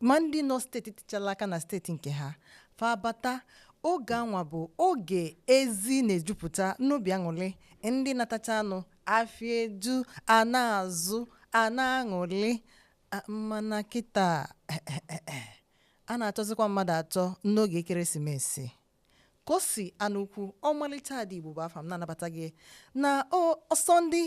ma ndị nọ steeti tichala aka na steeti nke ha fa bata oge anwa bụ oge ezi na-ejupụta n'obi aṅụlị ndị natacha anụ afịa eju a na-azụ a na-aṅụlị A- mana kịta a na-achọzikwa mmadụ achọ n'oge ekeresimesi kosi anukwu ọmalịcha ada igbo bụ afa m na-anabata gị na o- ọsọ ndị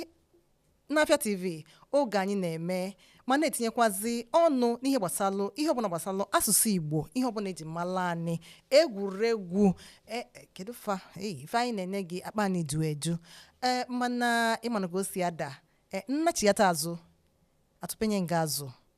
n'afịa tv oge anyị na-eme ma na-etinyekwazi ọnụ n'ihe gbasalụ ihe ọbụla gbasalụ asụsụ igbo ihe ọbụla eji mala anyị egwuregwu e- e, kedu fa ei, ife anyị na-enye gị akpa anyị ju eju ee mana ị manụ ka o si ada e, nnachighata azụ atụpenye nga azụ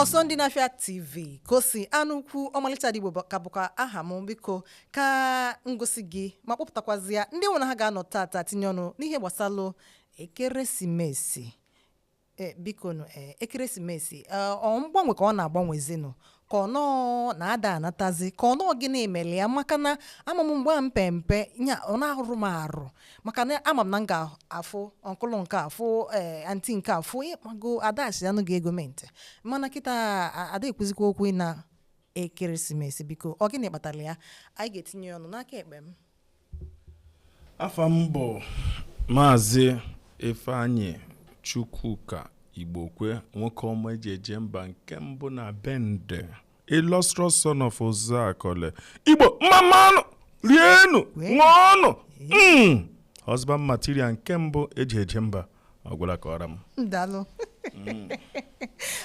ọsọ ndị n'afịa tv kosi anukwu ọmalịcha ada igbo bụ- ka bụkwa aha m biko ka ngosi gị ma kpọpụtakwazịa ndị mụ na ha ga-anọ tata tinye ọnụ n'ihe gbasalụ ekeresimesi e, biko nụ e, ekeresimesi e, ọ mgbanwe ka ọ na-agbanwezinụ ka ọ na ada anatazi ka ọ na ọ gịnị mere ya maka na ama m mgbe a mpe mpe nya ọ na-ahụrụ m arụ maka na ama m na m ga-afụ ọnkụlụ nke afụ ee anti nke afụ ịkpago a dashịanụ gị ego mint mana kịta a- ada ekwuzikwa okwu ịna ekeresimesi biko ọ gịnị kpatara ya anyị ga-etinye ya ọnụ n'aka ekpe m afa m bụ maazị ifeanyị chukwuka igbokwe nwoke ọma eji eje mba nke mbụ na bende illustrious son of uzuakoli igbo mmamanụ rienu ṅụọnụ mm. husband material nke mbụ eji eje mba ọ gwụla ka ọ ra m daalụ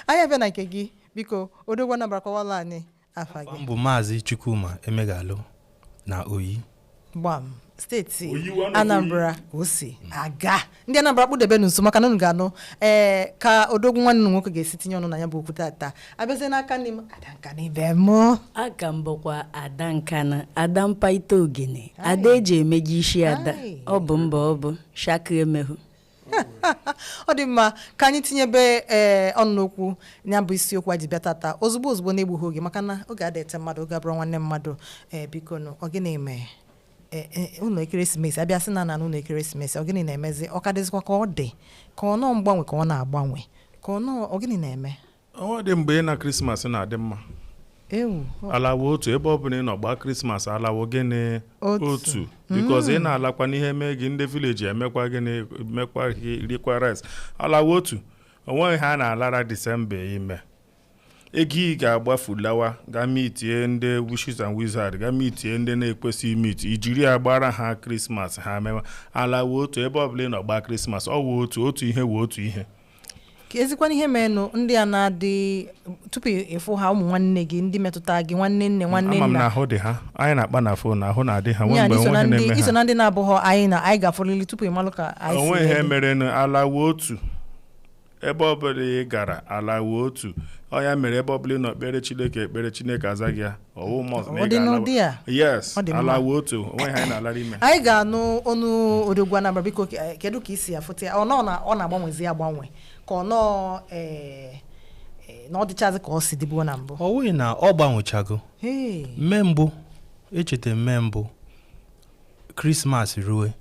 anyị abịa na nke gị biko odogwu nabara kọwalụ anyị afa gị m bụ maazị chukwuma emeghalụ na oyi gbam steeti anambra o si aga ndị anambra kpụdebenụ nso maka na unu ga-anụ ee ka odogwu nwanne unu nwoke ga-esi tinye ọnụ na ya bụ okwu tata abịazie n'aka nni m ada nkanu ibe m aka m bụkwa ada nkanu ada mpaita ogene ada eji emeji isi ada Aye. ọ bụ mba ọ bụ shaka emehu ọ dị mma ka anyị tinyebe ee eh, ọnụ n'okwu ya bụ isiokwu a ji bịa tata ozugbo ozugbo na-egbughị oge maka na oge ada eche mmadụ oge abụrọ nwanne mmadụ ee eh, biko nụ ọ gịnị mee ụna eh, ekeresimesi abịa sị na na ụna ekeresimesi ọ gịnị na-emezi ọ ka dịzịkwa ka ọ dị ka ọ na ọ mgbanwe ka ọ na-agbanwe ka ọ na ọ gịnị na-eme o nwedị mgbe ịna krismas na-adị mma ala wụ otu ebe ọ bụla ị nọ gbaa krismas ala wụ gịnị otu because ị mm. na-alakwanụ ihe mee gị ndị vileji emekwa gịnị mekwa rikwa rice ala wụ otu onweghị ihe a na-alara disemba ime ego ị ga-agbafu lawa ga mitie ndị witches and wizard ga mitie ndị na-ekwesịghị imit ijiri ya gbara ha krismas ha mewa ala wụ otu ebe ọbụla ị nọ gbaa krismas ọ wụ otu otu ihe wụ otu ihe ka ezikwana ihe merenụ ndị a na-adị tupu ịfụ ha ụmụ nwanne gị ndị metụta gị nwanne nne nwanne ama m na nna ahụ dị ha anyị na-akpa na fon ahụ na-adị ha nwee ya mgbe iso na onwe ihe ndị na-eme iso ha na ndị na-abụghọ anyị na anyị ga-afụrịrị tupu ị malụ ka anyị si onwe ihe elu. mere na ala wụ otu ebe ọbụla ị gara ala wụ otu ọ ya mere ebe ọbụla ị nọ kpere chineke ekpere chineke aza gị ya ọ wụ must na Ọ ị dị n'ụdị ga-ala a? yes Ọ dị mma. ala wụ otu onweghị anyị na-alara ime anyị ga-anụ ọnụ odogwu anambra biko ke- kedu ka i si afụta ya ọ nọ na ọ na-agbanwezi agbanwe ka ọ nọ eh, eh, na ọ dịchazi ka ọ si dịbu na mbụ ọ wụghị na ọ gbanwechago Hey. mme mbụ echeta mme mbụ krismas rue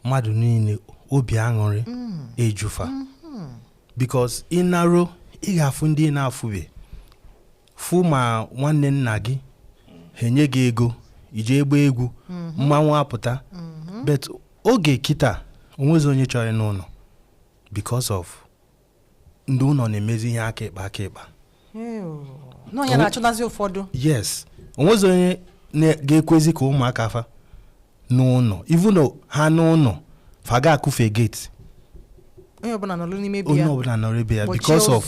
mmadụ niile obi aṅụrị ejufa because ị naruo ị ga-afụ ndị ị na-afụbe fụ ma nwanne nna gị ha enye gị ego ị jee gbaa egwu mhm. mmanwụ apụta mhm. but oge kịta onwezi onye chọrọ ịna ụnọ because of ndị ụnọ na-emezi ihe aka ịkpa aka ịkpa na ọ ya na-achụnazi ụfọdụ yes onwezi onye ga-ekwezi ka ụmụaka fa naa ụnọ even ha naa ụnọ fa ga-akụfe gate onye ọbụla nọrọ n'ime ebe ya onye ọbụla nọrọ ebe ya because of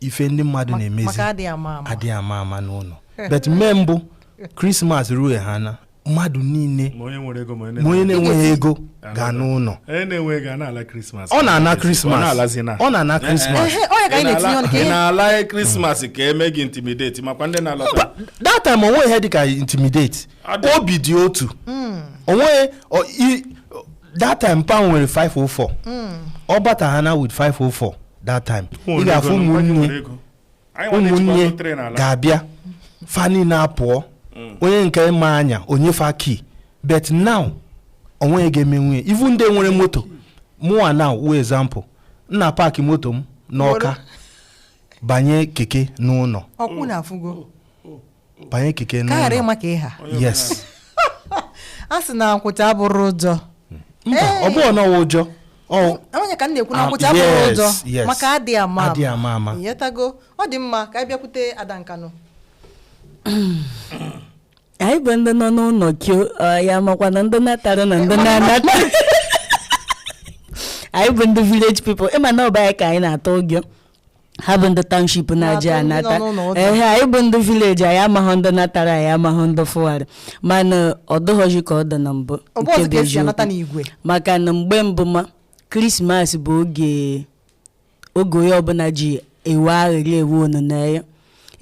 ife ndị mmadụ na-emezi adịghị ama ama n'ụnọ but mme mbụ krismas rue ha na mmadụ niile ma onye na-enweghị ego ga-ana ụnọ ọ na-ana krismas ọ na-ana krismas ị na-ala krismas ka eme gị intimidate makwa ndị na-alọta that time onweghị ihe dịka intimidate obi dị otu hmm. onweghị that time pa m nwere 504 hmm. ọ bata ha naa with 504 that time ị ga-afụ ụmụnne ụmụnne ga-abịa fa niile apụọ mm. onye nke ma anya enye fa key but now onweghị onye ga-emenwu ya even ndị nwere moto mụnwa now wụ example m na-apaakị moto m n'ọka banye keke naa ụnọ banye keke ka ghara n'ụlọ ịma ka ịha yes a sị na nkwụcha abụrọ ụjọ mba ọ bụghị na ọ wụ ụjọ ọ ya ka m na-ekwu na Ah, nkwụcha abụrọ yes, ụjọ yes. maka adịghị ama Adịghị ama ama. ịghọtago ọ dị mma ka anyị bịakwute ada nkanụ anyị bụ ndị nọ n'ụlọ kio ọ, ya makwa na ndị natara na ndị na-anata anyị bụ ndị village people ịma na ọ bụ ya ka anyị na-atụ ụjọ ha bụ ndị township na-aja Na-atụ ndị nọ anata n'ụlọ ụta. ehe anyị bụ ndị village anyị amaghị ndị natara anyị amaghị ndị fụwarị mana ọ dịghọzi ka ọ dị na mbụ ọ bụ nke ọzọ bụ ka esi anata eziokwu n'igwe maka na mgbe mbụ ma krismas bụ oge oge onye ọbụla ji ewe aṅụrị ewe onuneya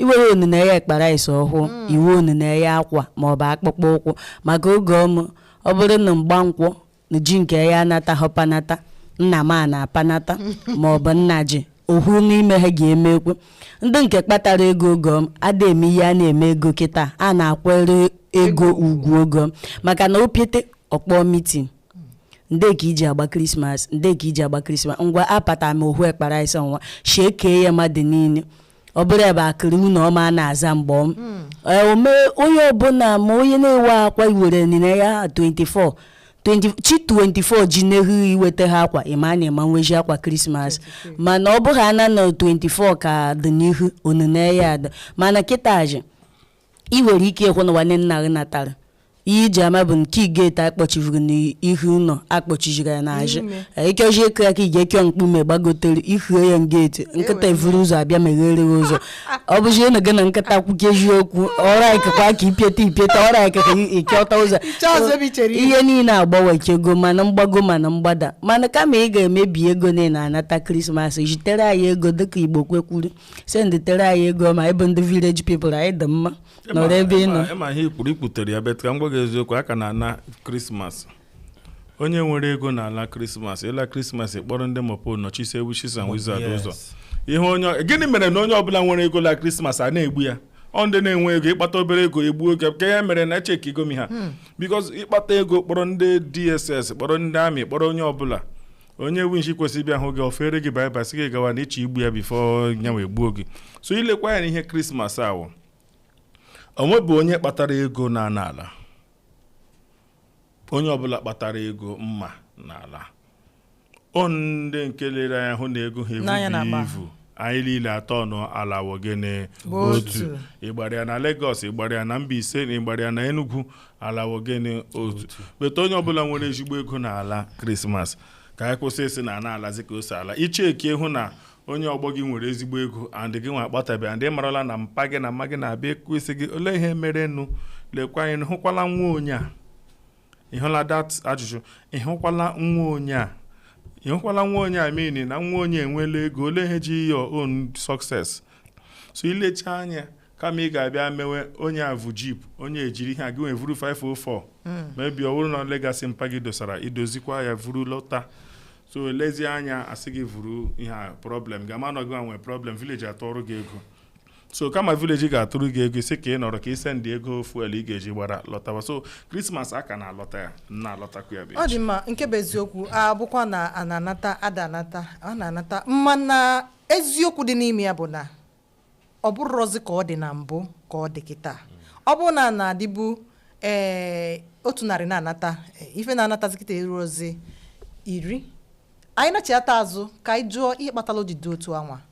iwere onuneya ekpara isi ọhụụ iwe onuneya akwa maọbụ akpụkpọ ụkwụ maka oge ọmụ ọ bụrụ na mgbankwọ ji nke ya anata ha panata nnama na-apanata ma ọ bụ nna ji ohu n'ime ha ga-emekwa ndị nke kpatara ego ogo m ada eme ihe a na-eme ego kịta a na-akwere ego ugwu ogo m maka na ọ pụta ọ kpọọ mitin ndị ka iji agba krismas ndị ka iji agba krismas ngwa apata m ohu ekpa raịs a nwa shekee ya mmadụ niile ọ bụrụ ebe akịrị nwunye ọma a na-aza mgbọm hmm. eh, ome onye ọbụla ma onye na-ewe akwa iwere nile ya 24 chi 24 ji n'ehu iweta ha akwa ịma na ị ma nwezi akwa krismas mana ọ bụghị ana na 24 ka dị n'ihu onineanya adị mana kịtazi ị nwere ike ịhụ na nwanne nna gị natara ihe iji ama bụ nke geeti akpọchivuru n'ihu ụlọ akpọchiziri ya n'azụ ikeji ịkụ ya aka ị ga-ekio mkpume gbagotere ihu ya geeti nkịta evuru ụzọ abịa meghere gị ụzọ ọ bụzi ịnụ gị na nkịta kwuke eziokwu ọra ikekwa ka ipieta ipieta ọra ikekwa ịchọta ụzọ ihe niile agbanwechago mana mgbago mana mgbada mana kama ị ga-emebi ego niile anata krismas zitere anyị ego dịka Igbokwe kwuru senditere anyị ego ma anyị bụ ndị village people anyị dị mma nọrọ ebe ị nọ ịma ihe ikwuru ikwutere ya bet ka m gwa gị eziokwu a ka na-ala krismas onye nwere ego na-ala krismas ịla krismas kpọrọ ndị mopol nọchisie witches and wizard ụzọ ihe onye gịnị mere na onye ọbụla nwere ego la krismas a na-egbu ya ọ ndị na-enwe ego ịkpata obere ego egbuo gị ka ya mere na echeki igomi ha bikos ịkpata ego kpọrọ ndị dss kpọrọ ndị army kpọrọ onye ọbụla onye winshi kwesịrị ịbịa hụ gị o feere gị baịbaị sị gị gawa na ịchọ igbu ya bifo ya wee gbuo gị so ilekwa anya na ihe krismas awụ onwebụ onye kpatara ego na-ana ala onye ọbụla kpatara ego mma na-ala ọ ndị nke lere anya hụ na ego ha ebughị ivu anyị niile atọ ọnụ ala wụ gịnị otu. ịgbara ya na Lagos ịgbara ya na Mbaise na ịgbara ya na Enugu ala wụ gịnị otu bet onye ọbụla nwere ezigbo ego na ala krismas ka anyị kwụsị ịsị na ana alazi ka o si ala i cheki hụ na onye ọgbọ gị nwere ezigbo ego and gị nwa akpatabeghị and ị marala na mpa gị na mma gị na-abịa ekwusi gị olee ihe merenụ lekwa anya ị hụkwala nwa onye a ị hụla dat ajụjụ ị hụkwala nwa onye a ị hụkwala nwa onye a meaning na nwa onye a enwela ego olee ihe jiri your own success so ilecha anya kama ị ga-abịa mewe onye a vu jip onye ejiri ihe a gịnwa evuru 504 mebi ọ bụrụ na legasị mpa gị dosara idozikwa ya vuru lọta so lezie anya asị gị vuru ihe a problem ga-ama na gị nwa nwee problem village atụọrọ gị ego so kama village ga-atụrụ gị ego sị ka ị nọrọ ka i sendi ego fuel ị ga-eji gbara lọtawa so Christmas a ka na-alọta ya na-alọtakwa ya bụ ọ dị mma nke bụ eziokwu a bụkwa na a na-anata a da anata a na-anata mana eziokwu dị n'ime ya bụ na ọ bụrọzi ka ọ dị na mbụ ka ọ dị kịta ọ bụrụ na a na-adịbu ee otu narị na-anata eh, ife na-anatazi kịta erurozi iri anyị nachata azụ ka anyị jụọ ihe kpatara o ji dị otu anwa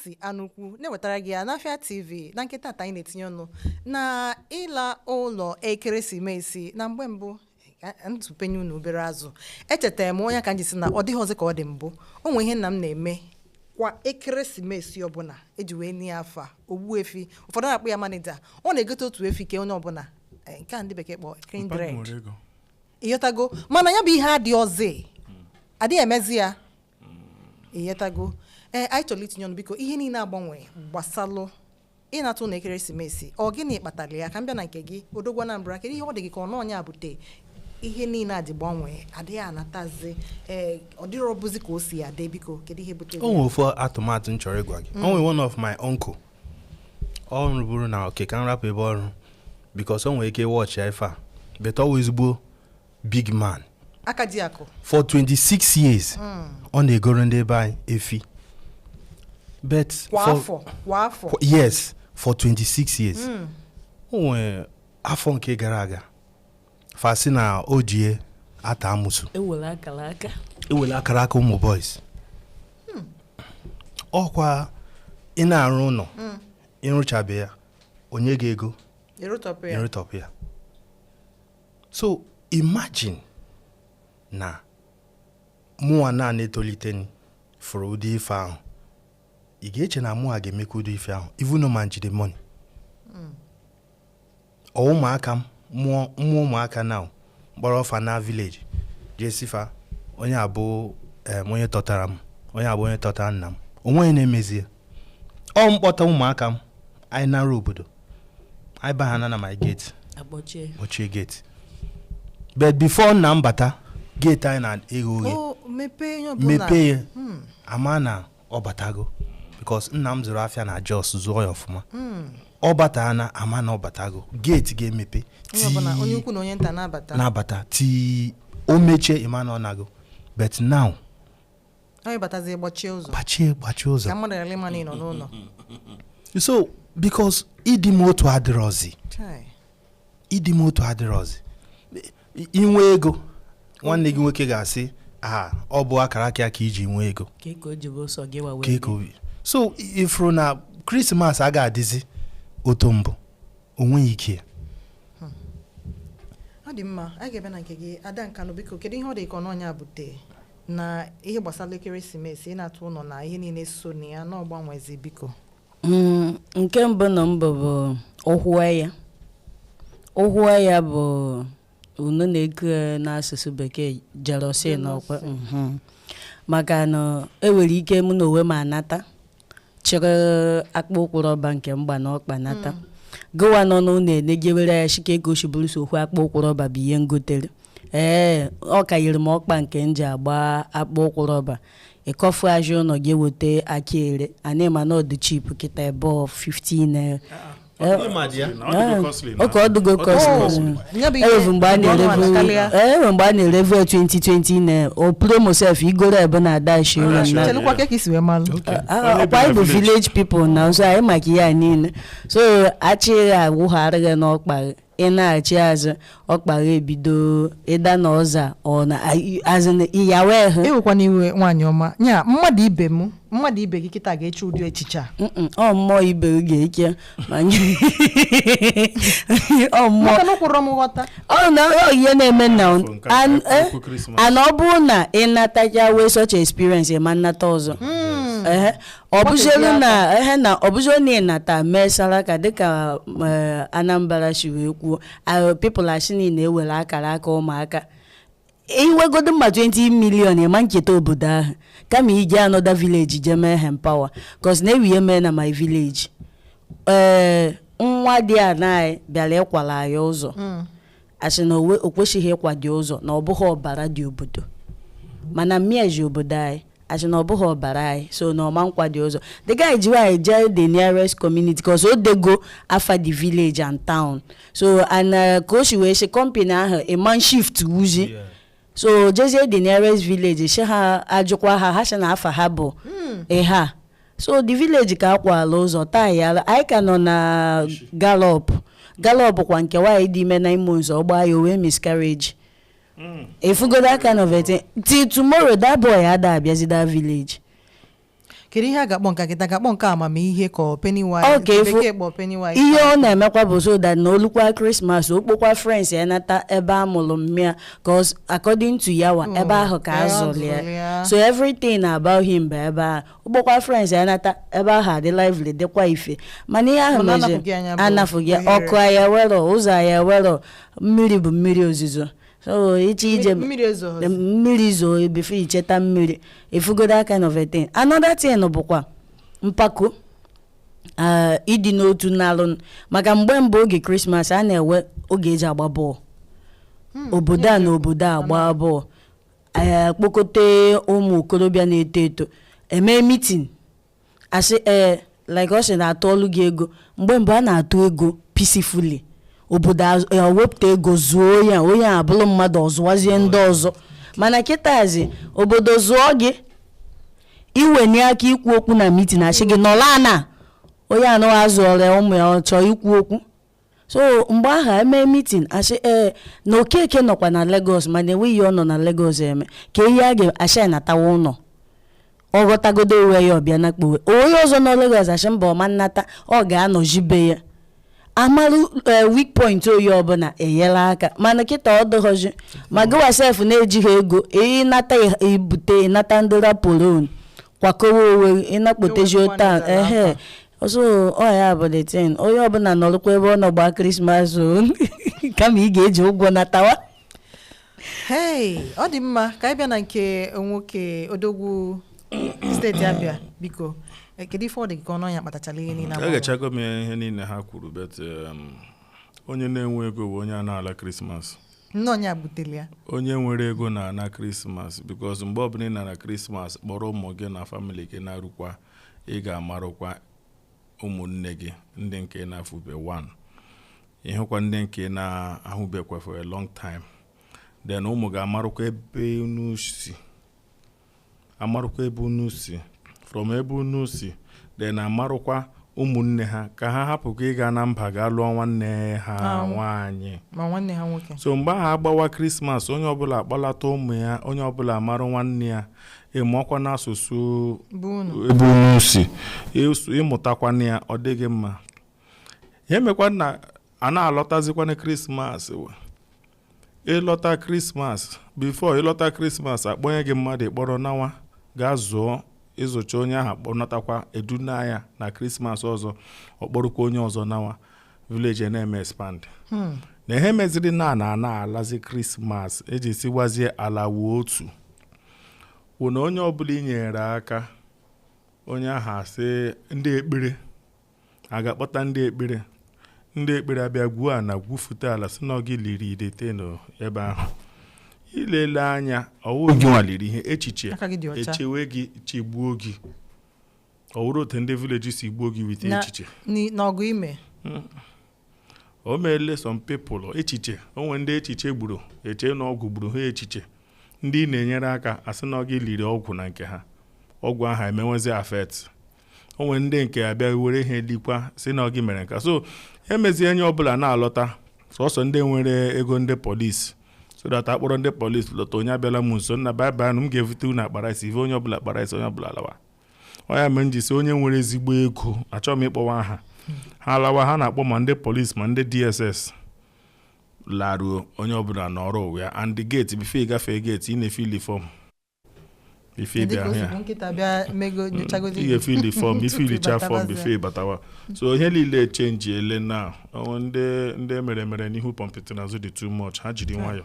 si anụkwu na-ewetara gị ya n'Afịa TV na nke tata anyị na-etinye ọnụ na ịla ụlọ ekeresimesi na mgbe mbụ ntụpenye unu obere azụ echetara m ọ nya ka m ji sị na ọ dịhọzi ka ọ dị mbụ o nwere ihe nna m na-eme kwa ekeresimesi ọbụla e ji wee nye ya afa Ogbuefi ụfọdụ na-akpọ ya manager ọ na-egote otu efi kee onye ọbụla eh, nke a ndị bekee kpọọ Papa m kindred nwere ego ịghọtago mana ya bụ ihe adịhọzi a dịghị emezi ya ịghọtago ee anyị chọrọ itinye ọnụ biko ihe niile agbanwee gbasalụ ịnata ụnọ ekeresimesi ọ gịnị kpatara ya ka m bịa na nke gị odogwu Anambra kedu ihe ọ dị gị ka ọ nya bute ihe niile a ji gbanwee a da anatazi ee ọ dịrọbuzi ka o si adị biko kedu ihe bute o nwere ofu atụmatụ m chọrọ ịgwa gị o nwere one of my uncle ọ rụburu na okay ka m rapụ ebe ọ rụ because o nwere ike watchịa ife a but ọ wụ ezigbo big man aka ji akụ for 26 years hmm. ọ na-egoro ndị be anyị efi but kwa afọ kwa afọ yes for 26 years hmm. o rue afọ nke gara aga fa sị na o ji ya ata amusu ewele akara aka ewele akara aka ụmụ boys hmm. ọkwa ị na-arụ ụlọ ị rụchabe ya onye ga-ego ịrụtọpụ ya so imagine na mụwa na na-etolite fụrụ ụdị ife ahụ ị ga-eche na mụwa ga-emekwa ụdị ife ahụ even ma m jide money hmm. or ụmụaka m mụọ ụmụaka na m kpọrọ fa naa village jee sị fa onye a bụ onye tọtara m onye a bụ onye tọtara nna m o nweghị onye na-emezi ya or m kpọta ụmụaka m anyị nara obodo anyị bahana na my gate akpọchie kpọchie gate but before nna m bata gate anyị na-eghe oghe o mepee ihe ọbụla mepee ya Hmm. a ma na ọ batago because nna m zụrụ afịa na Jos zụọ ya ọfụma Hmm. ọ bata a na-ama na ọ batago gate ga-emepe onye ọbụla onye ukwu na onye nta na-abata na-abata till o mechie ị ma na ọ nago but now anyị batazie gbachie ụzọ gbachie gbachie ụzọ ka mmadụ ghara ịma na ị nọ n'ụlọ so because ịdị m otu adịrọzi Chai. ịdị m otu adịrọzi I- ị nwee ego nwanne gị nwoke ga-asị a ọ bụ akara aka ya ka iji nwee ego ka ị ka o jibe ụsọ gị wa ka wee ego bịa. obi so i- ị fụrụ na krismas a ga-adịzi otu mbụ o nweghị ike ya. ọ dị mma anyị ga-eje na nke gị Ada Nkanụ biko kedu ihe ọ dị ka ọ bụ ya bute na ihe gbasara ekeresimesi ịnata ụlọ na ihe niile so na ya na-agbanwezi biko Mm, nke mbụ na mbụ bụ ụhụ anya ụhụ anya bụ unu na-eku ya n'asụsụ bekee jealousy na ọkwa mhm. maka na e nwere ike mụ na onwe m anata chịrị akpụ ụkwụ rọba nke m gba n'ọkpa nata gụwa nọ n'ụlọ enegewere ya shị kee ka o si bụrụ so okwu akpụ ụkwụ rọba bụ ihe m gotere ee ọ ka yiri m ọkpa nke m ji agba akpụ ụkwụ rọba ịkọfu aja ụlọ gị eweta aka ere anyị ma na ọ dụ cheap kịta ebe ọ 15 naira oke ọ dụgo costly e nwevu mgbe a na-erevu e nwe mgbe a na-erevu 2020 na o promo sef i goro ebe na adashi ewe na chelụkwa ka ka i si wee malụ ọkwa anyị bụ village people na ọzọ anyị maka ihe a niile so achịghị agwụgharịghị n'ọkpa gị ị na-achị azụ ọkpa gị ebido ịda na ọza ọ na azụ na ịyawa ehe ewekwana iwe nwaanyị ọma ya mmadụ ibe m mmadụ ibe gị kịta ga-eche ụdị echiche a Mm-mm, ọ mmụọ ibe gị ga-eche ma nye- ọ mmụọ maka na ụkwụrụ m ghọta ọ na ọ ihe na-eme na Afọ nke a, an- afọ eh, ukwu Christmas. and ọ bụrụ na ị natacha nwee such experience ị ma nata ọzọ Ehe. ọ bụziolu na ehe na ọ bụziolu na ị nata mee saraka dịka eh, Anambra si wee kwuo ah, people asị na i were akara aka ụmụaka i nwegodu ma 20 million ị ma echeta obodo ahụ kama i jee another village jee mee empower cos na e nwe ihe mee na my village ee eh, nwadiana bịara ịkwara anyị ụzọ hmm. asị na o kwesịghị ịkwa the ụzọ na ọ bụghị ọbara ndị obodo mana mma ya si obodo anyị asị na ọ bụghị ọbara anyị so na ọ ma akwa the ụzọ the guy ji iwe jee the nearest community cause o dego afa the village and town so and uh, ka o si wee sị company ahụ ị ma shiftuzi so jezie the nearest village sị ha ajụkwa ha ha sị na afa ha bụ ịha hmm. so the village ka akwala ụzọ taa ya anyị ka nọ na galop galop kwa nke nwaanyị dị ime nine months ọ gbaa ya o nwee miscarriage ị fụgo that kind of thing till tomorrow that boy ada abịazi that village kedu ihe a ga-akpọ nke nkịta ga-akpọ nke amamihe ka ọ Pennywise bekee kpọ Pennywise ihe ọ na-emekwa bụ so that na o lukwa krismas ọ kpọkwa friends ya nata ebe a mụrụ mmịa cause according to yawa ebe ahụ ka a zụrụ ya so everything about him bụ ebe ahụ ọ kpọkwa friends ya nata ebe ahụ adị lively dịkwa ife mana ihe ahụ mezi anyị bụ anafụghị ọkụ anyị enwerọ ụzọ anyị enwerọ mmiri bụ mmiri ozuzo so iche ije mmiri ezo the mmiri zoo before ị cheta mmiri ị fụgo that kind of a thing another thing bụkwa mkpakọ ah, ịdị n'otu n'alụ maka mgbe mbụ oge krismas a na-enwe oge e ji agba bọọlụ obodo a na obodo a gbaa bọọlụ eh, kpokọta ụmụ okorobịa na-eto eto e mee mitin a sị ee eh, like ọ sị na a tụọlụ gị ego mgbe mbụ a na-atụ ego peacefully obodo ewepụta ego zụọ ya onye a bụrụ mmadụ ọ zụwazie ndị ọzọ mana kịtazi obodo zụọ gị i wenie aka ikwu okwu na mitin a sị gị nọlụ ana onye anụghị azụ ọrịa ụmụ ya ọ chọọ ikwu okwu so mgbe ahụ e mee mitin a sị ee eh, na Okeke nọkwa na Lagos mana enweghị ihe ọ nọ na Lagos eme ka ihe a ga-asị natawa ụlọ ọ ghọtagodo onwe ya ọ bịa na kpowe onye ọzọ nọ Lagos asị mba ọ ma nata ọ ga-anọzi be ya amarụ eh, weak point onye ọbụla enyelụ aka mana kịta ọ dịrọzi ma gịwa sef na-ejighị ego ị nata ibute ị nata ndị rapolon kwakọwa onwe gị ị na-akpọtezi ụta ehe so ọ ya bụ the thing onye ọbụla nọrọkwa ebe ọ nọ gbaa krismas o kama ị ga-eji ụgwọ natawa hei ọ dị mma ka anyị bịa na nke nwoke odogwu steeti Abịa biko eh, kedu ife ọ dị gị ka ọnụ anya kpatachara ihe niile agbanwe? egechago m ya ihe niile ha kwuru but um, onye na-enwe ego bụ onye a na-ala krismas nnọọ ya butere ya onye nwere ego na-ana krismas because mgbe ọbụla ị na-ana krismas kpọrọ ụmụ gị na family gị na-arụkwa ị ga-amarụkwa ụmụnne gị ndị nke ị na-afụbe wan ị hụkwa ndị nke ị na-ahụbekwa for a long time then ụmụ gị amarụkwa ebe unu si amarụkwa ebe unu si from ebe unu si then amarụkwa ụmụnne ha ka ha hapụkwa ịga na mba ga lụọ nwanne ha nwaanyị ma nwanne ha nwoke so mgbe ahụ a gbawa krismas onye ọbụla akpọlata ụmụ ya onye ọbụla amarụ nwanne ya ị mụọkwanụ asụsụ be unu ebe unu si ịsụ- ị mụtakwanụ ya ọ dị gị mma ihe a mekwa na a na-alọtazikwanụ krismas wa. ịlọta krismas before ịlọta krismas akpọnye gị mmadụ ịkpọrọ nawa gaa zụọ ịzụcha onye ahụ kpọnatakwa eduna ya na krismas ọzọ ọkpọrọkwa onye ọzọ nawa vileji na-eme expand hmm. na ihe meziri na na ana alazi krismas eji siwazie alawa otu wụ na onye ọbụla i nyere aka onye ahụ asị ndị ekpere a ga-akpọta ndị ekpere ndị ekpere abịa gwuo ala gwufute ala sị na ọ gị liri idete n'ebe ahụ ilele anya ọ wụrụ gị nwa liri ihe echiche echewe gị chegbuo gị ọ wụrụ otu ndị vileji si gbuo gị with echiche n'ọgụ ime hmm. o meele some people echiche o nwere ndị echiche gburu eche na ọgwụ gburu ha echiche ndị ị na-enyere aka asị na ọ gị liri ọgwụ na nke ha ọgwụ ahụ emewezi affect o nwere ndị nke abịa were ihe likwa sị na ọ gị mere nke a so emezie onye ọbụla na-alọta sọsọ ndị nwere ego ndị polisi so that akpọrọ ndị polisi lọta onye abịala m nso nna baịbụl m ga-evute unu akpara isi ive onye ọbụla kpara isi onye ọbụla lawa ọ ya mere m ji sị onye nwere ezigbo ego achọghị m ịkpọwa aha ha alawa ha na-akpọ ma ndị polisi ma ndị dss laruo onye ọbụla nọrọ onwe ya and the gate before ịgafe gate ị na-efili fọm ife Dị ịbịa ka o ahụ si ya bụ nkịta bịa mego nyochagozi ị ga-efili fọm ife tupu ilicha fọm ịbatabazie. before ịbatawa so ihe niile chenjiele na o nwere ndị ndị meremere n'ihu pọmpịtị n'azụ dị too much ha jiri nwayọ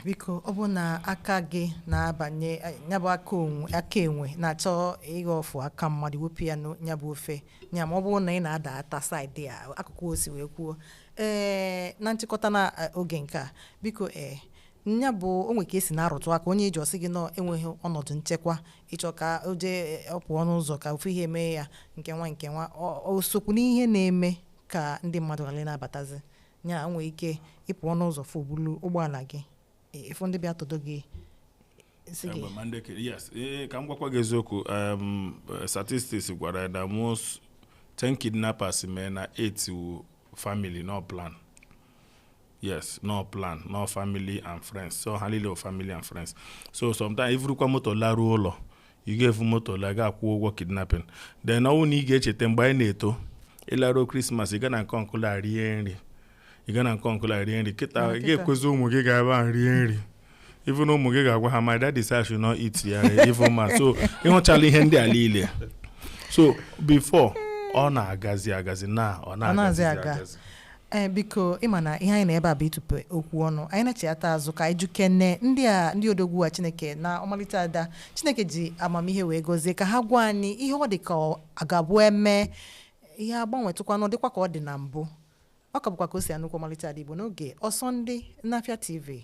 biko ọ bụrụ na aka gị na-abanye ya bụ aka enwe aka enwe na-achọ ịghọ ọfụ aka mmadụ wepụ ya ya bụ ofe ya ma ọ bụrụ na ị na-ada ata saịdị a akụkụ osi wee kwuo ee na nchịkọta na oge nke a biko ee nya bụ o nwere ka esi na-arụtụ aka onye iji ọsị gị na enweghị ọnọdụ nchekwa ịchọ ka o jee ọ pụọ n'ụzọ ka ofu ihe mee ya nke nwa nke nwa o sokwu n'ihe na-eme ka ndị mmadụ ghara ịna-abatazi ị nwee ike ịpụ ọnụ ụzọ fụ e bulu ụgbọala gị ịfụ ndị bịa tọdo gị yes ee ka m gwakwa gị eziokwu eh, statistics gwara na most 10 kidnappers mee na 8 wụ family no plan yes no plan no family and friends so ha niile family and friends so sometimes ivurukwa moto laruo ụlọ ị ga-evu moto laa gaa kwụọ ụgwọ kidnapping then ọ wụ na ị ga-echeta mgbe anyị na-eto ịlaruo krismas ị gaa na nke uncle a rie nri ị gaa na nke uncle a rie nri kịta ị ga-ekwezi ụmụ gị gaa ebe ahụ rie nri even ụmụ gị ga-agwa ha my daddy say I should not eat ya even ma so ịhụchala ihe ndị a niile so before ọ na-agazi agazi na ọ na-agazi agazi ee biko ịma na ihe anyị na ebe a bụ ịtụpe okwu ọnụ anyị nachiyata azụ ka anyị jụkene ndị a ndị odogwu a chineke na ọmalịcha ada chineke ji amamihe wee gọzie ka ha gwa anyị ihe ọ dị ka ọ ga-abụ eme ihe agbanwetụkwanụ ọ dịkwa ka ọ dị na mbụ ọ ka bụkwa ka o si anụkwa ọmalịcha ada igbo n'oge ọsọ ndị n'afịa tv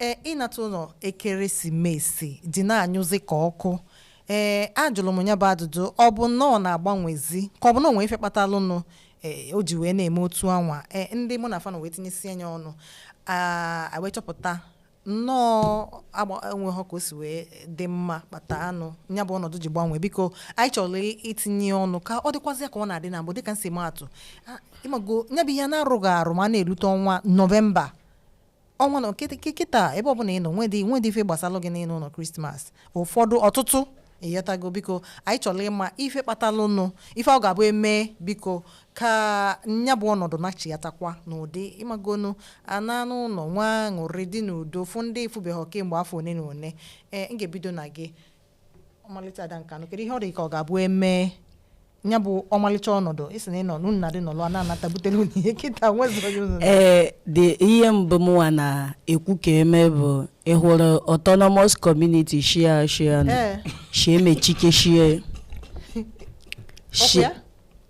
Ee, ịnata ụlọ ekeresimesi dị na-anyụzi ka ọkụ ee ajụlụ m nya bụ ajụjụ ọ bụ na ọ na-agbanwezi ka ọ bụ na o nwe ife kpatalụnụ ee o ji wee na-eme otu anwa ee ndị mụ na fa nọ wee tinyesi anya ọnụ aa a wee chọpụta nnọọ agba enweghị ka o si wee dị mma kpatalụnụ ya bụ ọnọdụ ji gbanwee biko anyị chọrọ i- itinye ọnụ ka ọ dịkwazị ya ka ọ na-adị na mbụ dịka m si maa atụ a, ịmago ya bụ ihe na-eru gị arụ ma a na-erute ọnwa november ọnwa na kịta- kị- kịta ebe ọbụla ị nọ nwedị nwedị ife gbasalụ gị n'ịna ụlọ christmas ụfọdụ ọtụtụ ị ghọtago biko anyị chọrọ ịma ife kpatalụnụ ife ọ ga-abụ eme biko ka nya bụ ọnọdụ nachiyatakwa n'ụdị ịmagonu a na-ana ụlọ nwee aṅụrị dị n'udo fụ ndị ị fụbeghị kemgbe afọ one na one ee m ga-ebido na gị ọmalịcha ada nkanụ kedu ihe ọ dị ka ọ ga-abụ emee ya bụ ọmalịcha ọnọdụ isi na ịnọ n'ọṅụ na-adị n'ụlọ a na-anata butere unu ihe kịta nwezighị ụnụ ee dị ihe mbụ mụnwa na-ekwu ka eme bụ ị hụrụ autonomous community shi e shi e Ee. shi e mechikeshie Ọkwa ya?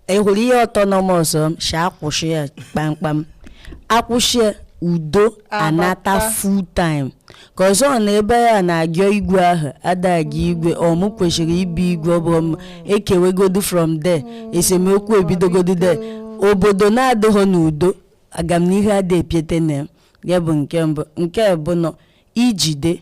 ị hụrụ ihe autonomous shi akwụsị ya kpamkpam akwụsị ya udo anata full time cause ọ na ebe a na-ajọ igwe ahụ adaghị igwe ọ mụ kwesịrị ịbụ igwe obodo ekewegodu from there esemokwu ebidogodu there obodo na-adịghị n'udo agamnihu adịghị epiete na ya bụ nke mbụ nke abụọ na ijide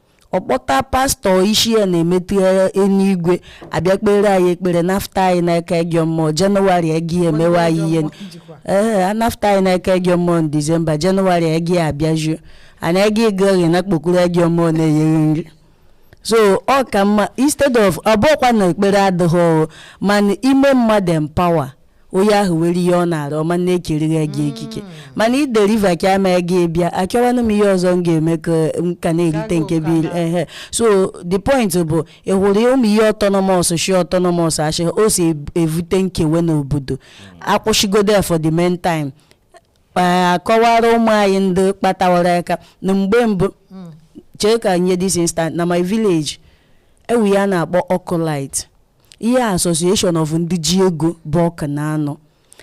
ọ kpọta pastor ị si ya na-emetụ ya eluigwe abịa kpere anyị ekpere nafta anyị n'aka ajọ mmụọ january gị emewe anyị ihe ee anafta anyị n'aka ajọ mmụọ na december january gị abịajuo anyị gị gịrị na kpokuru ajọ mmụọ na-enyere nri so ọ ka mma instead of ọ bụkwa na ekpere adịghị ọrụ mana ime mmadụ empower onye ahụ were ihe ọ na-arụ ọma na-ekerighị gị ekike mm. mana ị deliver ka ama gị bịa achọwanụ m ihe ọzọ m ga-eme ka m ka na-erite nke bụ ehe so the point bụ ị hụrụ ụmụ ihe autonomous shi autonomous achị o si evute nkewe n'obodo mm. akwụshigodo for the main time akọwara ụmụ anyị ndị kpatawara aka na mgbe mbụ mm. chee ka nye this instant na my village ewu ya na-akpọ ọkụ light Ihe Association of Ndị Ji Ego Bọk na-anọ,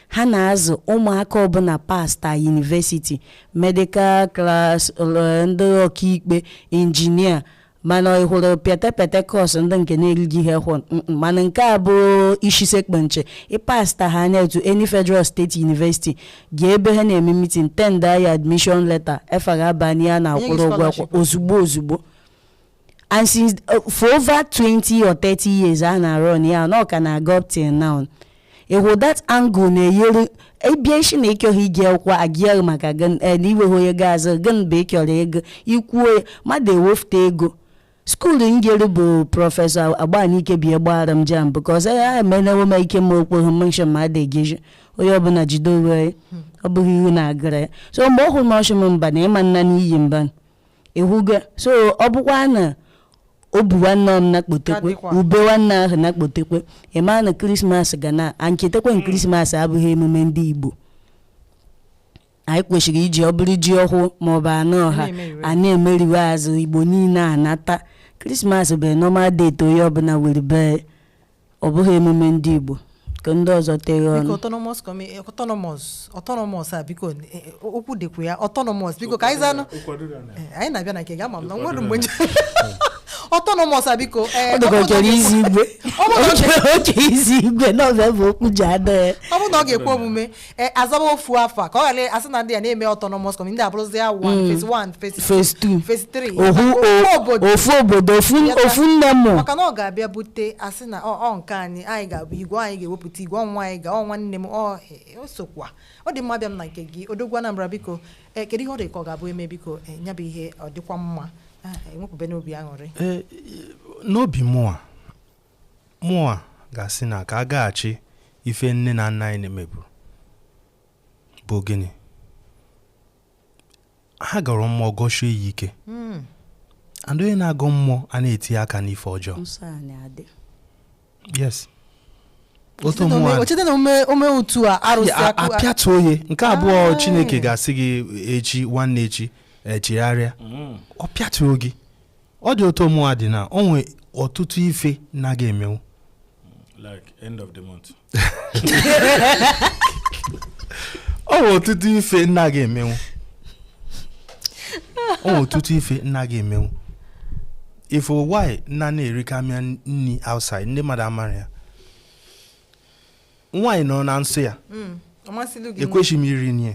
ha na-azụ ụmụaka ọbụla pasta university, medical class, ndị ọkaikpe, injinia, mana ị hụrụ pịatapịata course ndị nke na-erighị ha ehụ mm, mana nke a bụ isi sekpu nchị ị pasta ha anya etu any federal state university ga ebe ha na-eme meeting tendaa admission letter efa gị abanye a na-akwụrụ ụgwọ akwụkwọ ozugbo ozugbo and since uh, for over 20 or 30 years a na-arun ya na ọ ka na-aga up till now ịhụ that angle na-enyere ị bịa sị na ị chọghị iji akwụkwọ agịaghị maka gị eh, na i nweghị onye ga-azụ gị na bụ ị chọrọ ego i kwuo ya mmadụ ewefute ego school njere bụ Professor Agbanike bi gbara m JAMB because a emenewo m ike m okpogho menshon ma ada egeji onye ọbụla jide onwe ya ọ bụghị ihe na-agara ya so mgbe ọ hụrụ m ọ sị m mba na ịma nna n'iyi mba ị hụgo so ọ bụkwa na obu nwanne m na-akpotekwe Adịkwa. ube nwanne ahụ na-akpotekwe ị ma na krismas ga na-echetakwa na krismas abụghị emume ndị igbo anyị kwesịrị iji ọ bụ iri ji ọhụụ maọbụ anụ ọha Na-emeriwe. a na-emeriwe azụ igbo niile anata krismas bụ normal date onye ọbụla were bee ọ bụghị emume ndị Igbo ka ndị ọzọ tinye ọnụ biko autonomous community autonomous autonomous a biko eh, okwu dịkwa ya autonomous biko ka anyị zanụ eh, anyị na-abịa na nke gị ama m na nwere mgbe autonomous a biko eh, ọdụgọkere izi igwe oke izi igwe na ọ bịa bụ okwu ji ada ya ọ bụrụ na ọ ga-ekwe omume e, azaba ofu afa ka ọ ghara asị na ndị a na-eme autonomous community ndị abụrụzi ya one phase one phase phase two phase three ofu Ofu obodo o- ofu obodo ofu Yata. ofu nne mụ maka na ọ ga-abịa bute asị na ọ ọ nke anyị anyị ga-abụ igwe anyị ga-ewepụta igwe onwe anyị ga ọ nwanne m ọ e, o sokwa ọ dị mma abịa m na nke gị odogwu anambra biko e, kedu ihe ọ dị ka ọ ga-abụ eme biko e, ya bụ ihe ọ dịkwa mma Ah, enwepụbe n'obi aṅụrị Eh, n'obi mụa Mụnwa ga-asị na ka a gaghachi ife nne na nna anyị meburu bụ gịnị? Ha gọrọ mmụọ gọsie ya ike hmm. and onye na-agọ mmụọ a na-eti aka n'ife ọjọọ yes otu apịatuo onye nke abụọ ah. Chineke ga-asị gị echi nwanne echi chegharịa hmm. ọ pịatuo gị ọ dị otu mụnwa dị na o nwee ọtụtụ ife na-aga emenwu like end of the month o nwee ọtụtụ ife na-aga emenwu o nwee ọtụtụ ife na-aga emenwu ife why nna na-erikamịa nni outside ndị mmadụ amara ya nwaanyị nọ na nsọ ya ọ masịlụ gị ekwesịghị m iri nni ya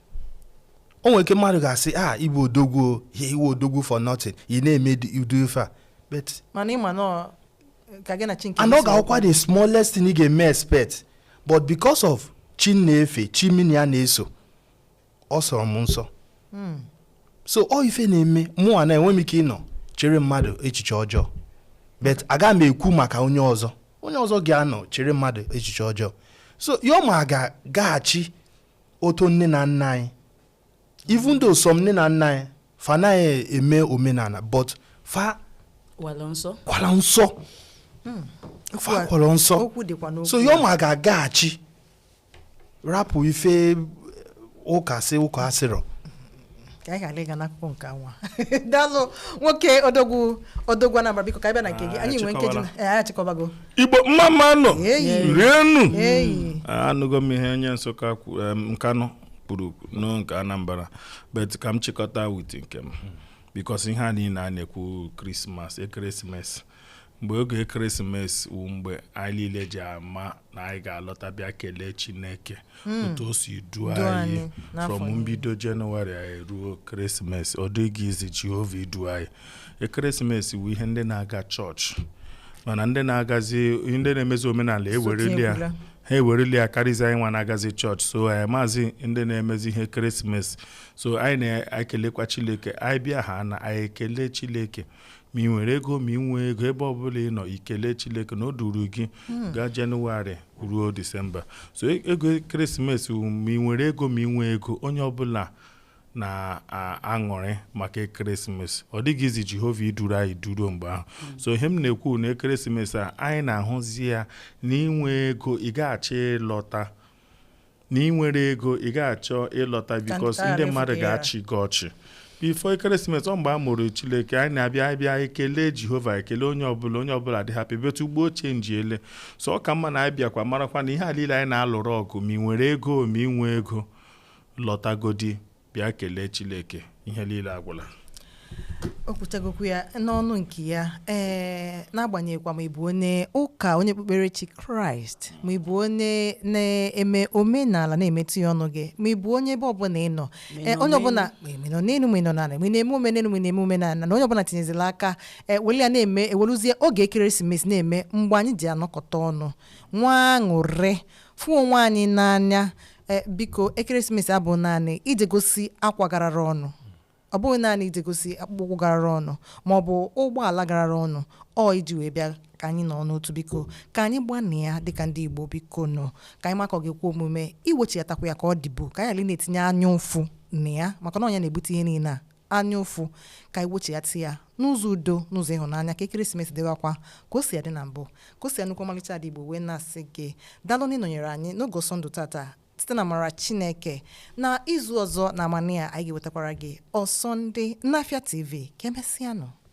o nwere ike mmadụ ga-asị a ah, ị bụ odogwu ihe ị wụ odogwu for nothing ị na-eme udu ife a but mana ịma na ka gị na chi nke anọ ga-akwụkwa the smallest thing ị ga-eme expect but because of chi m na-efe chi mụ na ya na-eso ọ sọrọ m nsọ hmm. so ọ ife na-eme mụnwa na enwe m ike ịnọ chere mmadụ echiche ọjọọ but aga m ekwu maka onye ọzọ onye ọzọ ga-anọ chere mmadụ echiche ọjọọ so yoma ga-agaghachi otu nne na nna anyị even though some nne na nna anyị fa naghị eme omenala but fa kwala nsọ kwala nsọ hmm. fa kwala nsọ so ya ọma ga-agaghachi rapụ ife ụka sị ụka asịrọ ka anyị ghara ịga n'akụkọ nke anwa daalụ nwoke odogwu odogwu anambra biko ka anyị bịa na nke gị Ah, anyị nwee nkeji na achịkọbala. ee anyị achịkọbago igbo mma mma nụ Eyi. rienụ eyi anụgo m ihe onye nsụka kwu- em, nkanụ kwuru nụọ nke anambra bet ka m chịkọta wit nke m bikos ihe a niile a na-ekwu krismas ekeresimesi mgbe oge ekeresimesi wụ mgbe anyị niile ji ama na anyị ga-alọta bịa kelee chineke otu o si duo Duo anyị anyị n'afọ from niile. mbido jenụwarị anyị ruo ekeresimesi ọ dịghị izi jehova idu anyị ekeresimesi wụ ihe ndị na-aga chọọchị mana ndị na-agazi ndị na-emezi omenala ewerela ya ekwula. ha ewerela ya karịzi anyị nwa na-agazi chọọchị so anyị amazị ndị na-emezi ihe ekeresimesi so anyị na-ekelekwa chineke anyị bịa ha na anyị ekele chineke ma ị nwere ego ma ị nwee ego ebe ọbụla ị nọ i kelee Chineke na o duru gị hmm. gaa Jenụwarị ruo Disemba so e, ego ekeresimesi ma ị nwere ego ma ị nwee ego onye ọbụla na-aṅụrị maka ekeresimesi ọ dịghị izi Jehova iduru anyị duruo mgbe ahụ hmm. so ihe m na-ekwu na ekeresimesi a anyị na-ahụzi ya na ị nwee ego ị ga-achọ ịlọta na ị nwere ego ị ga-achọ ịlọta bikos ndị mmadụ ga-achị gị ọchị bifo ekeresimesi ọ mgbe a mụrụ Chineke anyị na-abịa bịa ekele Jehova ekele onye ọbụla onye ọbụla dị hapi bet ugbu a o chenjiele so ọ ka mma na anyị bịakwa marakwa na ihe a niile anyị na-alụrụ ọgụ ma ị nwere ego ma ị nwee ego lọtagodi bịa kelee Chineke ihe niile agwụla o kwuchagokwa ya n'ọnụ nke ya ee n'agbanyeghịkwa ma ị bụ onye ụka onye okpukperechi kraịst ma ị bụ onye na-eme omenala na-emetụ ya ọnụ gị ma ị bụ onye ebe ọbụla ị nọ ee, onye ọbụla ma ị nọ n'elu ma ị nọ n'ala ma ị na-eme omenelu ma ị na-eme omenala na onye ọbụla tinyezila aka ee, were ya na-eme ewerezie oge ekeresimesi na-eme mgbe anyị ji anọkọta ọnụ nwee aṅụrị fụ onwe anyị n'anya E, biko ekeresimesi abụghị naanị ije gosi akwa garara ọnụ ọ bụghị naanị ije gosi akpụkpọ ụkwụ garara ọnụ ma ọ bụ ụgbọala garara ọnụ ọ iji wee bịa ka anyị nọọ n'otu biko ka anyị gbaanụ ya dịka ndị igbo bikonụ ka anyị ma ka ọ ga-ekwe omume iwechiatakwa ya ka ọ dịbu ka anyị ghara ị na-etinye anya ụfụ na ya maka na ọ nya na-ebute ihe niile a anya ụfụ ka anyị wechighata ya n'ụzọ udo n'ụzọ ịhụnanya ka ekeresimesi dịwakwa ka o si adị na mbụ Kaosi Anukwu ọmalịcha ada igbo wee na-asị gị daalụ na ị nọnyere anyị n'oge ọsọ ndụ tata site n'amara chineke na izu ọzọ na amanị a anyị ga-ewetakwara gị ọsọ ndị n'afịa tv ka emesịanụ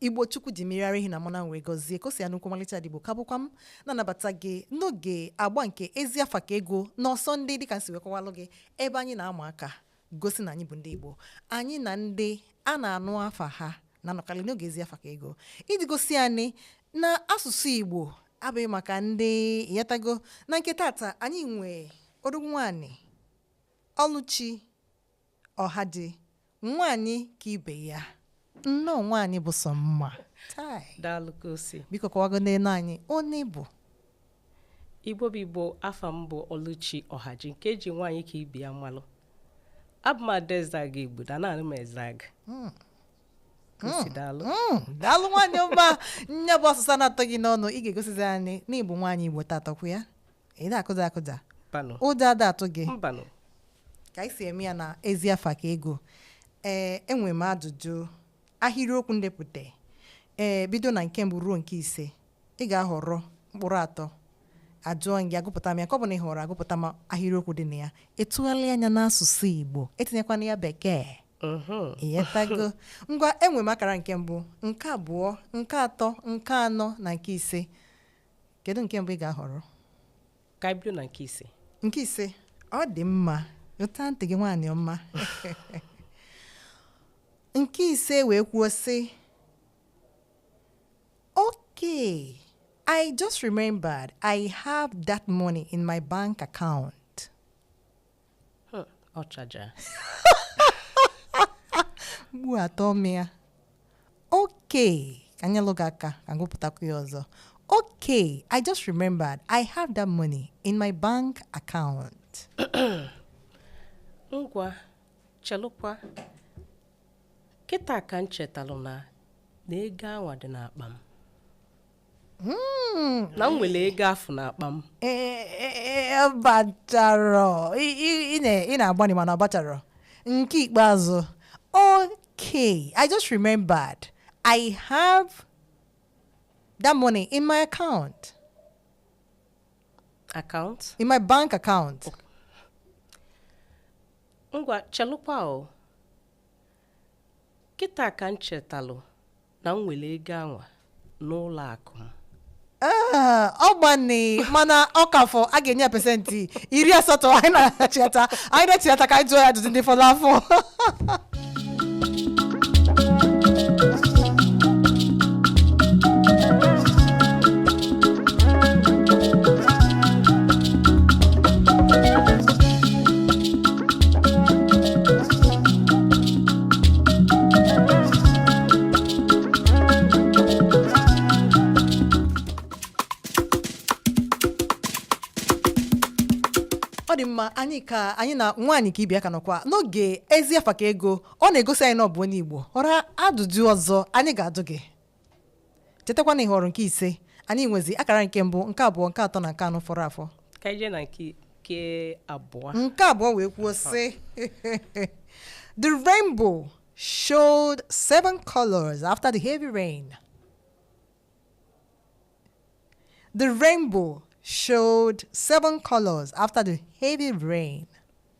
igbo chukwu ji mmiri ara ehi na mmanụ wee gọzie Kaosi Anukwu ọmalịcha ada igbo ka bụkwa m na-anabata gị n'oge agba nke ezi afa ka ego n'ọsọ ndị dịka m si wee kọwalụ gị ebe anyị na-ama aka gosi na anyị bụ ndị igbo anyị na ndị a na-anụ afa ha na-anọkarị n'oge ezi afa ka ego iji gosi anyị na asụsụ igbo abụghị maka ndị yatago na nke tata anyị nwee odogwu nwaanyị ọlụchi Ọhaji, nwaanyị ka ibe ya. Nnọọ nwaanyị bụ sọ mma. Chai. Daalụ Kaosi. Biko kọwagonụlụ anyị onye ị bụ. Igbo bụ Igbo afa m bụ Oluchi Ọhaji nke eji nwaanyị ka ibe ya malụ. Abụ m ada Ezeagụ Igbudu na naanị m Ezeagụ. Kaosi daalụ. Mm, daalụ nwaanyị ọma nya bụ asụsụ na-atọ gị n'ọnụ ị ga-egosizi anyị na ị bụ nwaanyị Igbo tata ọkwa ya ị na-akụja akụja mbanụ ụjọ ada atụ gị mbanụ ka anyị si eme ya na ezi afa ka ego ee enwere m ajụjụ ahịrịokwu m depụtara ee bido na nke mbụ ruo nke ise ị ga-ahọrọ mkpụrụ atọ ajụọ gị agụpụta m ya nke ọbụna ị họrọ agụpụta m ahịrịokwu dị na ya ị tụgharịa ya n'asụsụ igbo etinyekwana ya bekee Mhm. ị ghọtago ngwa enwere m akara nke mbụ nke abụọ nke atọ nke anọ na nke ise kedu nke mbụ ị ga-ahọrọ ka anyị bido na nke ise nke ise ọ dị mma weta ntị gị nwaanyị ọma nke ise wee kwuo sị okay i just remembered i have that money in my bank account Hmm, ọchaja mgbu atọ mịa okay ka m nyelụ gị aka ka m gụpụtakwu ya ọzọ okay i just remembered i have that money in my bank account ngwa chelụkwa kịta ka m chetalụ na na ego anwa dị n'akpa m Hmm. na m nwere ego afụ n'akpa m bacharọ ị na-agbanị mana ọ bacharọ nke ikpeazụ okay i just remembered i have that money in my account account in my bank account ngwa chelukwa o kịta ka m chetalụ na m nwere ego anwa n'ụlọ akụ m Ee, ọ gbanị mana ọ ka fọ a ga-enye ya pesentị iri asatọ anyị na-achịghata anyị na-achịghata ka anyị jụọ ya ajụjụ ndị fọrọ afọ ọ dị mma anyị ka anyị na nwaanyị ka ibe ya ka nọkwa n'oge ezi afa ka ego ọ na-egosi anyị na ọ bụ onye igbo ọra ajụjụ ọzọ anyị ga-ajụ gị chetakwa na ị họrọ nke ise anyị nwezi akara nke mbụ nke abụọ nke atọ na nke anọ fọrọ afọ ka anyị jee na nke nke abụọ nke abụọ wee kwuo sị the rainbow showed seven colors after the heavy rain the rainbow showed seven colors after the heavy rain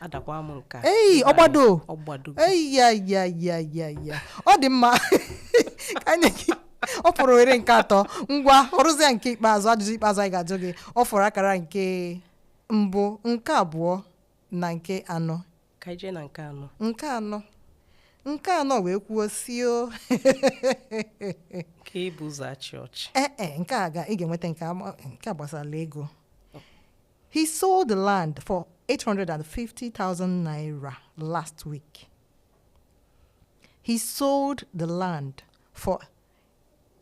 adakwa m nke a ei ọgbado ọgbado ei ya ya ya ya ya ọ dị mma ka anyị gị ọ fọrọ ohere nke atọ ngwa o ruzie nke ikpeazụ ajụjụ ikpeazụ anyị ga-ajụ gị ọ fọrọ akara nke mbụ nke abụọ na nke anọ ka anyị jee na nke anọ nke anọ nke anọ wee kwuo sị o nke i bu ụzọ achị ọchị ee e nke a ga ị ga-enweta nke a ma- nke a gbasara ego He sold the land for 850,000 naira last week. He sold the land for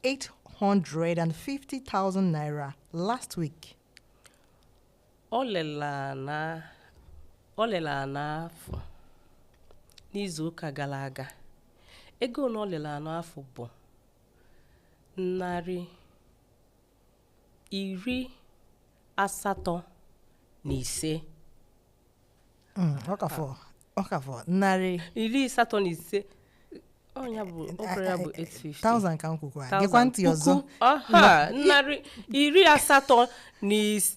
850,000 naira last week. O lelu ana o lelu ana afụ n'izu ụka gara aga. Ego na o lelu ana afụ bụ narị iri asatọ na ise Mm, ọ ka fọ ọ ka fọ narị iri asatọ na ise ọ nya bụ okoro ya bụ 850 thousand ka m kwukwa Thousand, geekwa ntị ọzọ puku, aha, narị iri asatọ na is-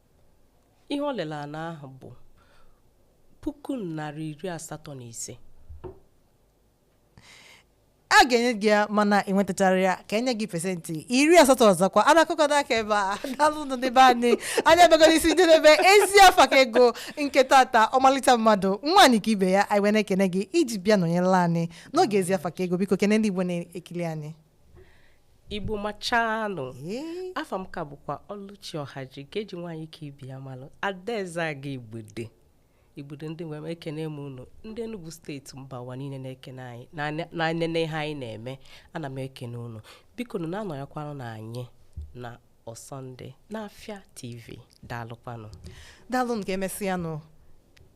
ihe o lere ana ahụ bụ puku narị iri asatọ na ise a ga-enye gị ya mana ị nwetachara ya ka enye gị pesentị iri asatọ ọzọkwa a na-akụkọ n'aka ebe a daalụ nụ n'ebe anyị anyị abịago n'isi njedebe ezi afa ka ego nke tata ọmalịcha mmadụ nwaanyị ka ibe ya anyị wee na-ekene gị iji bịa nọnyere anyị n'oge ezi afa ka ego biko kene ndị igbo na-ekiri anyị igbo machanụ afa m ka bụkwa ọlụchi ọhaji nke eji nwaanyị ka ibe ya malụ adaeze aga igbude igbude ndị nwe m ekene m unu ndị Enugu steeti mba ụwa niile na-ekene anyị na-enene ihe anyị na-eme ana m ekene unu bikonu na-anọnyekwanụ na anyị na ọsọnde n'afịa tv daalụkwanụ daalụnụ ka emesịanụ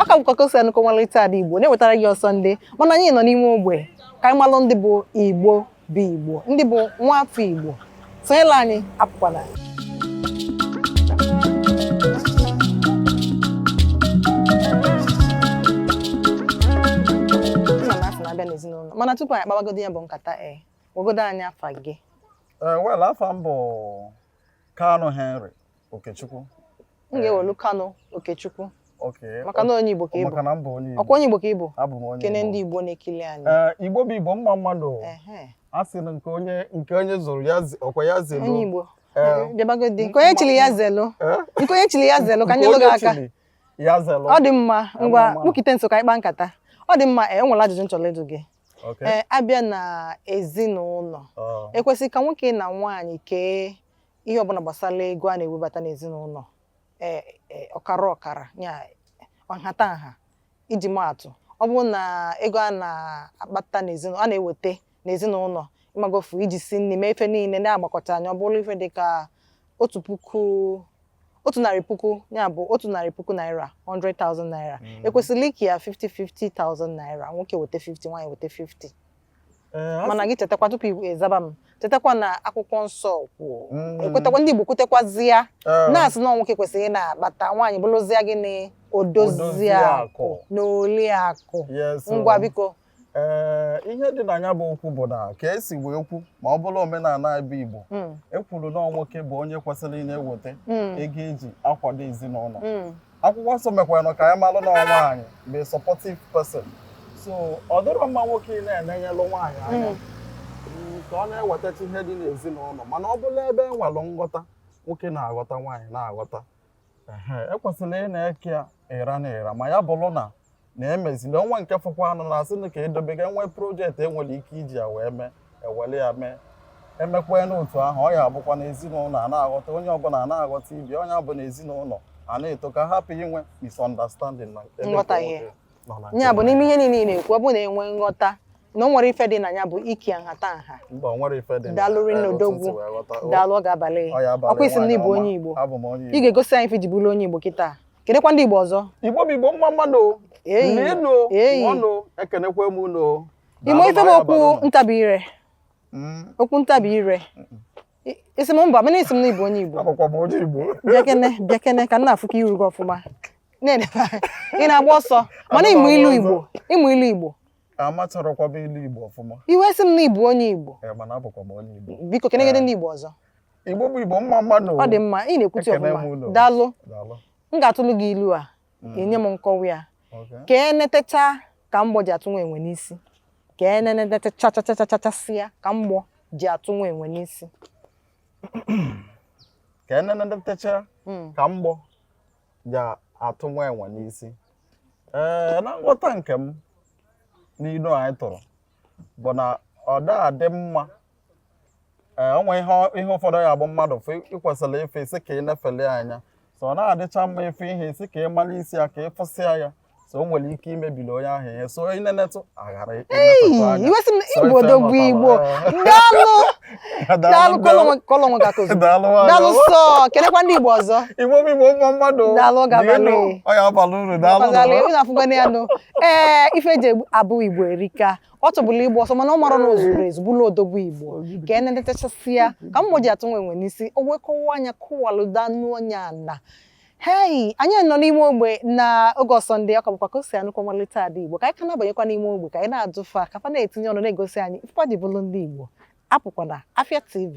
ọ ka bụkwa kosi anụkọ ọmalịcha ada igbo na-ewetara gị ọsọnde mana anyị nọ n'ime ogbe ka anyị malụ ndị bụ igbo bụ igbo ndị bụ nwa afọ igbo sonyelu anyị apụkwala nna m afọ na-abịa n'ezinụlọ mana tupu anyị akpabagodu ya bụ nkata e gwagodo anyị afa gị ee wel afa m bụ Kanu Henry Okechukwu m ga-ewelu Kanu Okechukwu okay maka na onye Igbo ka ịbụ maka na m bụ onye Igbo ọkwa onye Igbo ka ịbụ abụ m onye kene ndị Igbo na-ekili anyị ee Igbo bụ Igbo mma mmadụ ehe a sị na nke onye nke onye zụrụ ya ze- ọkwa ya zelu onye Igbo Ee. bịabagodi nke onye chiri ya zelu Ee? nke onye chiri ya zelu ka Nke anyị lụrụ onye aka chiri ya zelu ọ dị mma ngwa mma. kpụkite nso ka anyị kpaa nkata ọ dị mma e nwere ajụjụ m chọrọ ịjụ gị ee abịa na ezinụlọ oh. ekwesịrị ka nwoke na nwaanyị kee ihe ọbụla gbasara ego a na-ewebata n'ezinụlọ e, e, ọkara ọkara ya nhatanha iji maatụ ọ bụrụ na ego a na-akpata n'ezinụlọ a na-eweta n'ezinụlọ ịmagofu iji si nri mee ife niile a gbakọchaa nya ọ bụrụ ife dị ka otu puku otu narị puku ya bụ otu narị puku naira 100,000 naira mm. ekwesịrị ike ya 50 50,000 naira nwoke weta 50 nwaanyị weta 50 eh, mana gị chetakwa tupu ịzaba m chetakwa na akwụkwọ nsọ kwuo mm. ekwetakwa ndị Igbo kwutekwazi ya eh. na-asị na nwoke kwesịrị na-akpata nwaanyị bụrụzie gịnị odozi akụ na oli akụ ngwa biko ee ihe dị na ya bụ okwu bụ na ka esi wee ekwu ma ọ bụrụ omenala be Igbo mm. ekwuru na nwoke bụ onye kwesịrị na-eweta mm. ego eji akwado ezinụlọ mm. akwụkwọ nsọ mekwara ka anyị malụ na nwaanyị bụ supportive person so ọ dịrọ mma nwoke ị na-enenyelụ nwaanyị anya ka ọ na-ewetacha ihe dị n'ezinụlọ mana ọ bụrụ ebe e nwere nghọta nwoke na-aghọta nwaanyị na-aghọta ekwesịrị ị na-eke ya ịra na ịra ma ya bụrụ na na emezili o nwee nke fọkwanụ a na-asị na ka edobega e nwee project enwere ike iji ya wee mee ewere ya mee emekwa n'otu ahụ ọ ya abụkwa na ezinụlọ a na-aghọta onye ọbụla a na-aghọta ibe onye bụ na ezinụlọ a na-eto ka hapụ inwe misunderstanding na ebe Nghọtahie. ụfọdụ nọ na ya bụ nke n'ime ihe niile ị na-ekwu ọ bụ na enwe nghọta na o nwere ife dị na ya bụ ike nhata nha mba o nwere ife dị na- Daalụ rinne otu odogwu. ntị wee ghọta. O- daalụ ọ ga-abalị ọ ya abalị ọkwa ị sị m na nwaanyị ị bụ ọma. onye Igbo Abụ m onye ị Igbo. ga-egosi anyị ife i ji bụrụ onye Igbo kịta kelekwa ndị igbo ọzọ igbo bụ igbo mma mma nụ Eyi. n'enu Eyi. ọnụ ekenekwa m unu ị ma ife bụ okwu ntabi ire Mm, okwu ntabi ire I- ị sị m mba mana ị sị m na ị bụ onye igbo abụkwa m onye igbo bịakene bịakene ka m na-afụkwa iru gị ọfụma na-edebe anya. ị na-agba ọsọ mana ị ma ilu igbo ị ma ilu igbo amatarọkwa m ilu igbo ọfụma i wee sị m na ị bụ onye igbo Eh, mana abụkwa m onye igbo biko kenegodi ndị igbo ọzọ Igbo bụ Igbo mma mma nụ ọ dị mma ị na-ekwuchi Ekene m ọfụma ụlọ. daalụ Daalụ. m ga-atụlụ gị ilu a Mm. i nye m nkọwa ya Okay. ka e netecha ka mgbọ ji atụ nwa enwe n'isi ka e nenetechachachachachasịa ka mgbọ ji atụ nwa enwe n'isi Ka e nenetacha Mm. ka mgbọ ji atụ nwa enwe n'isi. Ee, na nghọta nke m n'ilu anyị tụrụ bụ na ọ da adị mma ee o nwe ihe ihe ụfọdụ ya bụ mmadụ fụ ị kwesịrị ife ị sị ka ị na-efeli ya anya so ọ na-adịcha mma ịfụ ihe ị sị ka ị mara isi ya ka ị fụsịa ya so o nwere ike imebili onye ahụ ihe so ị na-enetụ aghara Ei, imetụtụ anya i wee sị m So igbo ife dogbu mụtara, igbo ee. daalụ daalụ kụọlụ onwe kụọlụ onwe aka kozu daalụ nwaanyị daalụ ọma. sọ kelekwa ndị igbo ọzọ Igbo bụ Igbo mma mma nụ Daalụ, ọ ga-abalị. Dịrịnụ, ọ ya abalị unu daalụ Ọkazalị, nụ. unu afụkwana ya nụ ee ife eji egbu- abụ igbo erika ọ tụbụla igbo ọsọ mana ọ mara na o zuru ezu bụlụ odogwu igbo ka e netechasịa ka mgbọ ji atụ nwa enwe n'isi o wee kọwaa ya kọwaluda n'onye ala hei anyị nọ n'ime ogbe na oge ọsọ ndị ọka bụkwa ka o si anụkọ malite ada igbo ka anyị ka na-abanyekwa n'ime ogbe ka anyị na-ajụ fa ka fa na-etinye ọnụ na-egosi anyị ife fa ji bụrụ ndị igbo apụkwana Afia TV